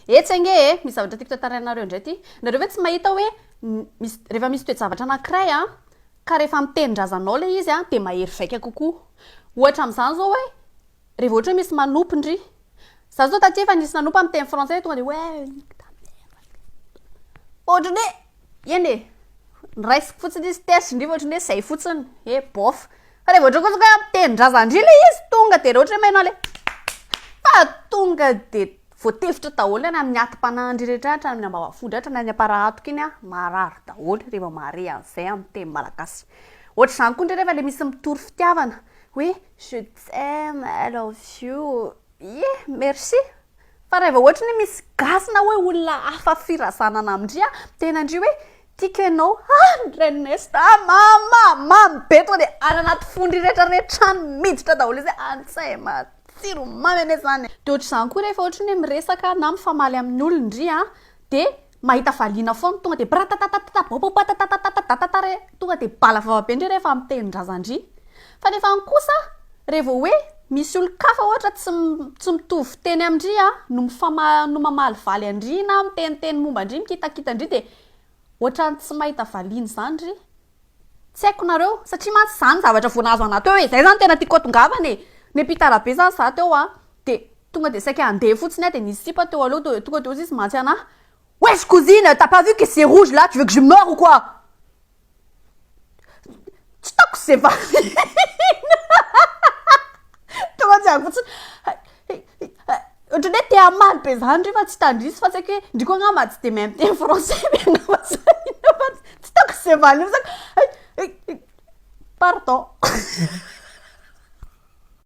Etsy ange e, misy zavatra tiako tantarainareo indray ity. Nareo ve tsy mahita hoe misy, rehefa misy toe-javatra anankiray an, ka rehefa amin'ny tenin-drazanao ilay izy an, dia mahery vaika kokoa. Ohatra amin'izany izao hoe, rehefa ohatra hoe misy manopy ndry. Izaho izao taty efa nisy nanopy amin'ny teny frantsay tonga dia hoe nique ta mère. Ohatran'ny hoe, eny e, noraisiko fotsiny izy tetsy ndry fa ohatran'ny hoe izay fotsiny, hoe bof. Fa le vao ohatry ny kosa hoe tenin-drazan-dry le izy tonga de le ohatry hoe mena le fa tonga de voatefitra daholo any amin'ny atim-panahin-dry rehetra any hatramin'ny ambavafo-dry hatrany any am-para-hatoka iny an, marary daholo reva mahare an'izay amin'ny teny malagasy. Ohatr'izany koa indray rehefa le misy mitory fitiavana hoe je t'aime, I love you, ie, merci. Fa reva ohatry ny hoe misy gasy na hoe olona hafa firazanana amin-dry an, miteny an-dry hoe. Tiko enao ah ny renin'i Nesta ah mama mamy be to de any anaty fo ndry rehetra rehetra any miditra daholo izy ah any tsay matsiro tsiro mamy anie zany de ohatr'izany koa rehefa ohatry ny hoe miresaka na mifamaly amin'ny olona ndry ah de mahita valiana foana tonga de bratatatatata baobao batatatatata datata re tonga de bala vava be ndry rehefa miteny ny razandry Fa nefa an kosa re vao hoe misy olon-kafa ohatra tsy tsy mitovy fiteny amin-dry an no mifama no mamalivaly an-dry na miteniteny momba an-dry mikitakita an-dry dia ohatran'ny tsy mahita valiany izany ry tsy haiko nareo satria mantsy za ny zavatra vao nahazo anah teo e zay zany tena tiako atongavana e niampita rabe zany za teo an dia tonga dia saika handeha fotsiny an dia nisy sipa teo aloha teo dia tonga dia hozy izy mantsy anah wesh cousine t'as pas vu que c'est rouge là tu veux que je meure ou quoi? tsy tako ze valiana tonga tsy ako fotsiny ohatrany hoe te hamaly be zany re fa tsy tandrisy fa tsy aiko hoe ndry koa nga mba tsy de mahay miteny français be angamba zany fa tsy tako ze valiana pardon